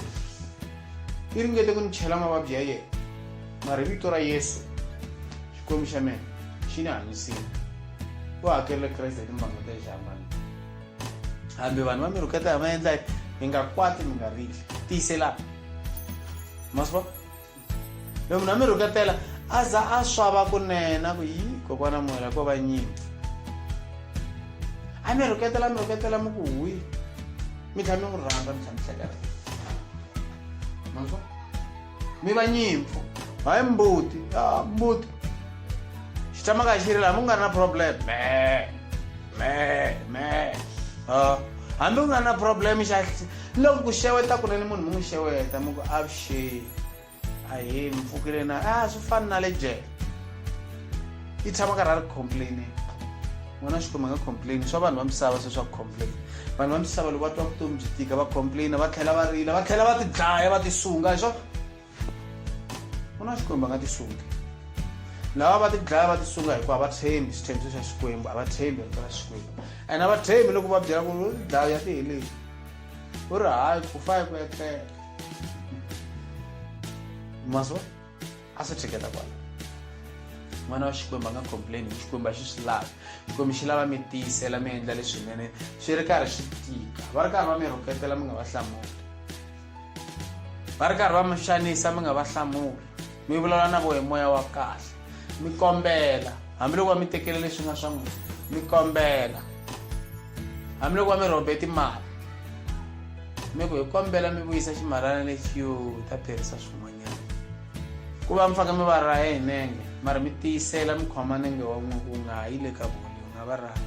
i ringete ku ni chela mavabyi ya yena mara vito ra yesu xikwembu xa mina xi ni hanyisile u hakerile kreste hi timbango ta lexi hambana hambi vanhu va mi rhuketa hi maendla mi nga kwati mi nga rili tiyiselana maswa loko munhu a mi rhuketela a za a swava kunena ku yi kokwana moya ko va nyimi a mi rhuketela mi rhuketela mi ku huyi mi tlhela mi n'wi rhandza mi tlhela mi hlekela maswa mi va nyimpfu hayi mbuti a mbuti xi tshama ka xi ri laha mi nga ri na problem me me me a hambi u nga ri na problem xa loko ku xeweta kunene munhu mi n'wi xeweta mi ku avuxeni a hi mi pfukile na a swi fani na le jele i tshama karhi a ri complaine n'wana wa xikwembu a nga complaini swa vanhu va misava se swa ku complaina vanhu va misava loko va twa vutomi byi tika va complaina va tlhela va rila va tlhela va ti dlaya va ti sunga hi swona n'wana wa xikwembu a nga ti sungi lava va ti dlaya va ti sunga hikuva va tshembi xithembiso xa xikwembu a va tshembi rito ra xikwembu and a va tshembi loko va byela ku ri u ti dlaya ya ti heleli u ri hayi ku fa hi ku etlela maso a swi tshiketa kwala n'wana wa xikwembu a nga complain hi xikwembu a xi swi lavi xikwembu xi lava mi tiyisela mi endla leswinene swi ri karhi swi tika va ri karhi va mi rhuketela mi nga va hlamuli va ri karhi va mi xanisa mi nga va hlamuli mi vulavula na vo hi moya wa kahle mi kombela hambiloko va mi tekele leswi nga swa n'wina mi kombela hambiloko va mi rhobe timali mi ku hi kombela mi vuyisa ximalana lexi yo ta tirhisa swin'wanyana ku va mi faka mi va raya hi nenge mara mi tiyisela mi khoma nenge wa n'we ku nga yi le ka voni u nga va raya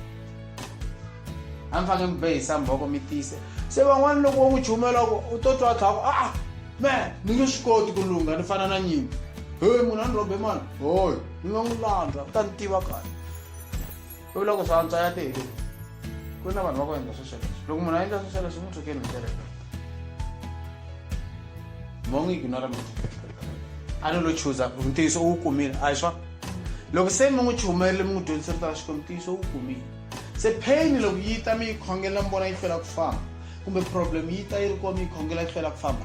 a mi fange mi behisa mbhoko mi tiyise se van'wana loko wo n'wi chumela ku u to twa thaku a me ni nge swi koti ku lungha ni fana na nyimpi he munhu a ni rhobe mani hoy ni nga n'wi landza u ta ni tiva kahle u vula ku swa antswa ya tele ku na vanhu va ku endla swesweleswo loko munhu a endla swesweleswo mu thukeni hi ndlela leyi mongo ignora mina a ni lo chuza ntiyiso u wu kumile a hi swa loko se mi n'wi chumerile mi n'wi dyondzise rito ra xikwembu ntiyiso wu kumile se pain loko yi ta mi yi khongela mi vona yi hlwela ku famba kumbe problem yi ta yi ri kona mi yi khongela yi hlwela ku famba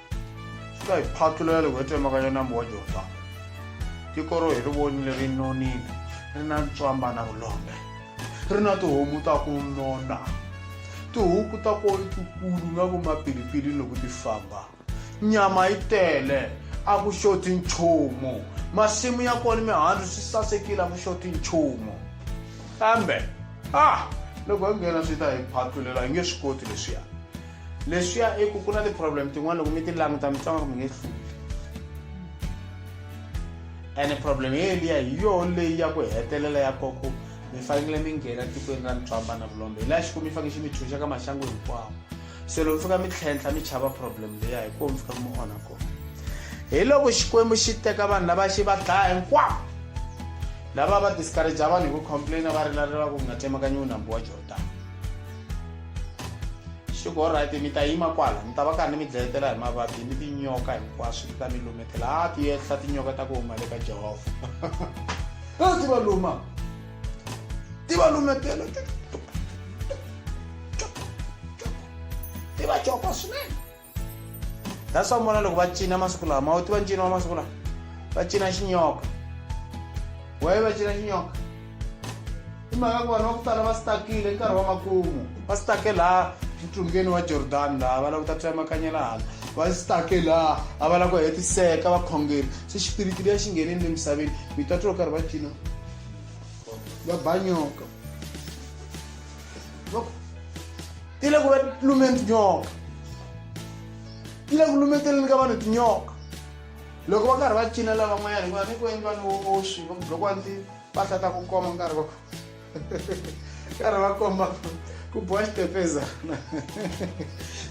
swi ta hi phatulela loko hi twa mhaka ya nambu wa jordani tiko ro hi ri vonile ri nonile ri na ntswamba na vulombe ri na tihomu ta ku nona tihuku ta ko tikulu nga ku mapilipili loko ti famba nyama yi tele a ku xoti nchumu masimu ya kona mihandzu swi sasekile a ku xoti nchumu kambe ah loko hi nghena swi ta hi phatulela hi nge swi koti leswiya leswiya i ku ku na ti-problem tin'wana loko mi ti languta mi tsanga ku mi nge hluli ene problem yeliya hi yoho leyi ya ku hetelela ya koko mi fanekele mi nghena tikweni ra ntswamba na vulombe hi laha xiku mi faneke xi mi tshunxa ka maxangu hinkwawo se loko mi fika mi tlhentlha mi chava problem leya hi koo mi fika mi onha kona hi loko xikwembu xi teka vanhu lava xi va dlaya hinkwawo lava va discouragea vanhu hi ku complaina va rilalela ku nga tsemakanyiwi nambu wa jordan swi ku olright mi ta yima kwala mi ta va karhi ni mi dlayetela hi mavabyi ni tinyoka hinkwaswo ti ta mi lumetela a ti yehla tinyoka ta ku huma le ka jehovha a ti va luma ti va lumetela ti va cokwa swinene that's why mona loko va cina masiku lawa ma wu tiva ncino wa masiku lawa va cina xinyoka waye va cina xinyoka i mhaka ku vanhu va ku tala va stakile nkarhi wa makumu va stake laha ntlungeni wa jordan laha va lava ku ta tsemakanyela hala va stake laha a va lava ku hetiseka vakhongeri se xipiriti leya xi ngheneni le misaveni mi ta twa karhi va cina va ba nyoka Look, ile kuba lume ndinyoka ile ku lumetele ni ka vanhu tinyoka loko va karhi va cinela van'wanyana hikuva ni ku endli vanhu voxi va loko a ndzi va hlata ku koma nkarhi va karhi va komba ku bowa xitepezana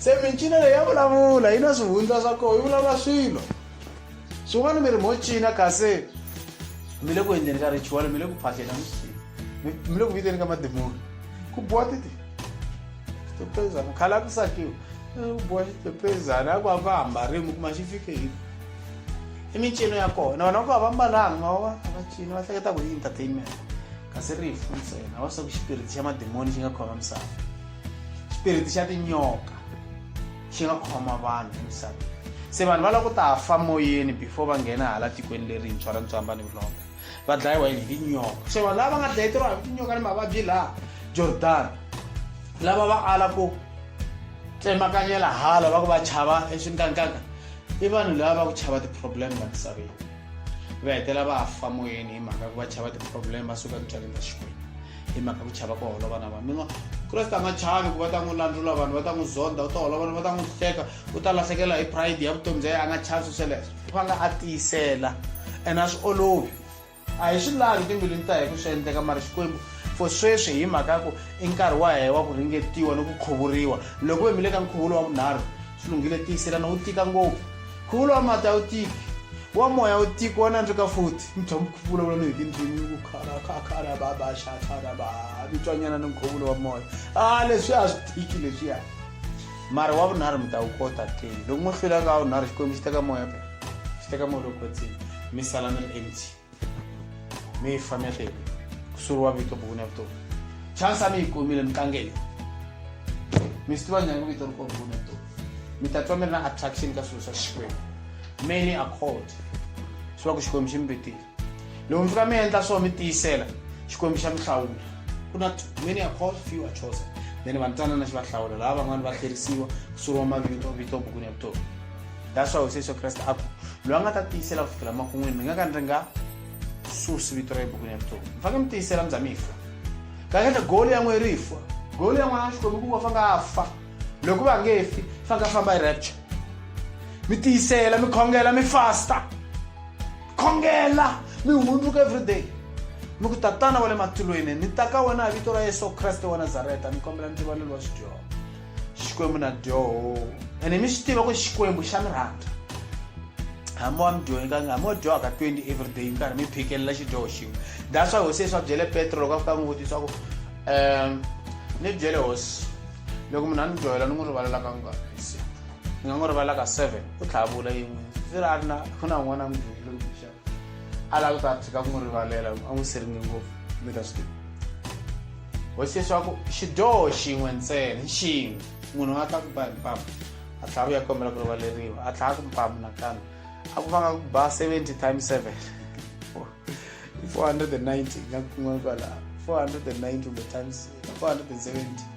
se mincino leyi ya vulavula yi na swihundla swa koho yi vulavula swilo swin'wana mi ri mo cina kasi mi le ku endleni ka ritual mi le ku phahleni a mi mi le ku viteni ka mademoni ku boha titi xitepezana khala ku sakiwa ku boha xitepezana a ku a va hambarimi kuma xi fike hi i mincino ya kona vana va ku a va mbalanga ma va va cina va hleketa ku i entertainment kasi ri hi funtsena va swa ku xipiriti xa mademoni xi nga khoma misava xipiriti xa tinyoka xi nga khoma vanhu emisaveni se vanhu va lava ku ta fa moyeni before va nghena hala tikweni lerintshwa ra ntswamba ni vulombe va dlayiwa yini hi tinyoka se vanhu lava va nga dlayeteriwa hi tinyoka ni mavabyi laha jordan lava va ala ku tsemakanyela hala va ku va chava eswinkankaka i vanhu lava va ku chava ti-problem la misaveni va hetela va fa moyeni hi mhaka ku va chava ti-problem va suka emintswaleni ta xikwembu hi mhaka ku chava ku holova na vanhu mi nga kreste a nga chavi ku va ta n'wi landlula vanhu va ta n'wi zonda u ta holova vanhu va ta n'wi hleka u ta lahlekela hi pride ya vutomi bya yena a nga chavi swi sweleswo va nga a tiyisela ene a swi olovi a hi swi lavi timbilwini ta hi ku swi endleka mara xikwembu for sweswi hi mhaka ya ku i nkarhi wa hehe wa ku ringetiwa ni ku khuvuriwa loko ve mi le ka nkhuvulo wa vunharhu swi lunghile tiyiselana wu tika ngopfu Khulu wa mati a wu tiki, wa moya a wu tiki, wa nandzika futhi. Mi tshama mi vulavula ni hi tindzimi, ku khara kha khara ba ba xa khara ba mi twanyana ni nkhuvulo wa moya. A leswi a swi tiki leswiya. Mara wa vunharhu mi ta wu kota ke. Loko mo hlula ka wa vunharhu Xikwembu xi teka moya phela. Xi teka moya lowu kwetsima, mi sala mi ri empty. mi yi famexe ku suriwa vito buku na vutomi chansa mi yi kumile mi tlangele mi swi tiva nyangu vito ri ko buku na vutomi mi ta twa mi ri na attraction ka swilo swa xikwembu many accord swi va ku xikwembu xi mi vitile loko mi fika mi endla swo mi tiyisela xikwembu xa mi hlawula ku na many accord few are chosen then va ntwanana xi va hlawula laha van'wani va hlwerisiwa ku suriwa mavito vito buku na vutomi daswa hosi yesu kreste a ku loyi a nga ta tiyisela ku fikela makun'wini mi nga ka ni ri nga susi vito ra ebukwini ya vutomi mi faneke mi tiyisela mi za mi fa kahlekahle goli ya n'we ri fa goli ya n'wana wa xikwembu ku va fa nga a fa loko va nge fi fa nga famba hi rapture mi tiyisela mi khongela mi fasta khongela mi hundzuka everyday mi ku tatana wa le matilweni ni ta ka wena hi vito ra yesu kreste wa nazareta ni kombela ni rivalelo wa xidyoho xikwembu na dyoho ene mi swi tiva ku xikwembu xa mi rhandza hambi wa mi dyohekanga hambi wa dyohaka 20 everyday nkarhi mi phikelela xidyoho xin'we that's why hosi yesu a byele petro loko a fika n'wi vutisa ku um ni byele hosi loko munhu a ni dyohela ni n'wi rivalela ka nga ni nga n'wi rivalela ka seven ku tlhavula yin'we swi ri a ri na ku na un'wana a mi dyohela alava ku ta tshika ku n'wi rivalela a n'wi siringe ngopfu mi ta swi tiva hosi leswaku xidyoho xin'we ntsena xin'we munhu a ta ku ba hi mpamu a tlhela vuya kombela ku rivaleriwa a tlhela ku mpamu nakambe a ku fanga ku ba 70 times 7 490 nga kun'wana kwalaho 490 kumbe times 470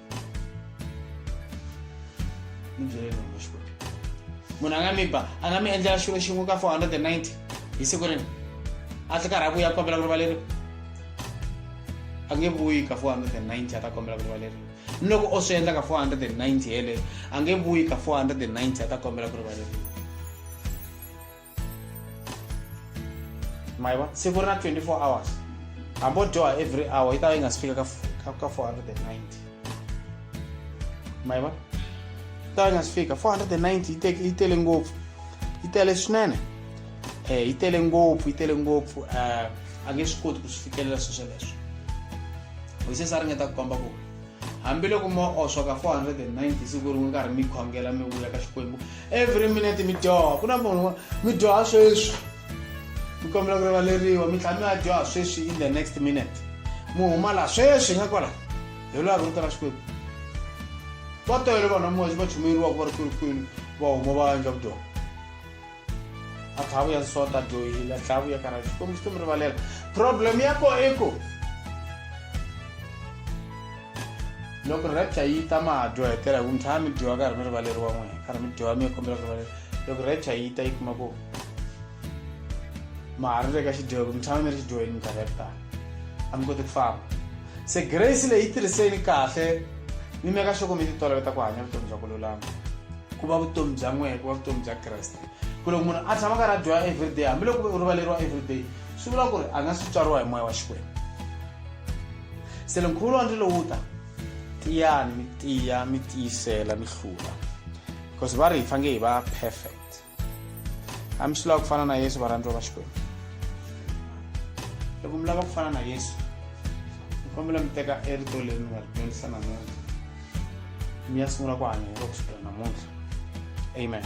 munhu a nga mi ba a nga mi endlela xilo xin'we ka 490 hi siku rini a tlhe karhi a vuya kombela ku rivaleriwa a nge vuyi ka 490 a ta kombela ku rivaleriwa ni loko o swi endla ka 490 yeleyo a nge vuyi ka 490 a ta kombela ku rivaleriwa maiva siku ri na 24 hours hambo dyoha every hour yi ta va yi nga si fika ka 490 maiva yi ta va yi nga si fika 490 yi tele ngopfu yi tele swinene um yi tele ngopfu yi tele ngopfu um a nge swi koti ku swi fikelela sweswo leswo hoyisesa a ringeta ku komba ku hambiloko mo oswa ka 490 siku rin'we karhi mi khongela mi vuya ka xikwembu every minute mi dyoha ku na munhu mi dyoha sweswi mi kombela ku rivaleriwa mi tlhela mi ya dyoha sweswi in the next minute mi huma laha sweswi nga kwala hi lwa ri vutela xikwembu va tele vanhu va moya va chumeriwaka va ri kwinikwini va huma va endla vudyoha a tlhava ya nsota dyohile a tlhava ya karhala xikwembu xi to mi rivalela problem ya ko i ku loko rapture yi ta ma ha dyohetela hi ku mi tshama mi dyiwa karhi mi rivaleriwa n'wina karhi mi dyiwa mi ya kombela ku rivalela loko rapture yi ta yi kuma ku ma ha ri le ka xidyoho ku mi tshama mi ri xidyoheni minkarhi ya ku tala a mi koti ku famba se grace leyi yi tirhiseni kahle ni meka xoko mi titoloveta ku hanya vutomi bya ku lulama ku va vutomi bya n'wehe ku va vutomi bya kreste ku loko munhu a tshama karhi a dyoha everyday hambiloko ku ve u rivaleriwa everyday swi vula ku ri a nga swi tswariwa hi moya wa xikwembu se le nkhuvulo wa ndzi lowu ta tiyani mi tiya mi tiyisela mi hlula because va ri hi fange hi va perfect a mi swi lava ku fana na yesu varhandziwa va xikwembu loko mi lava ku fana na yesu mi kombela mi teka erito leri mi nga ri dyondzisa namuntlha mi ya sungula ku hanya hi loko swi tirha namuntlha amen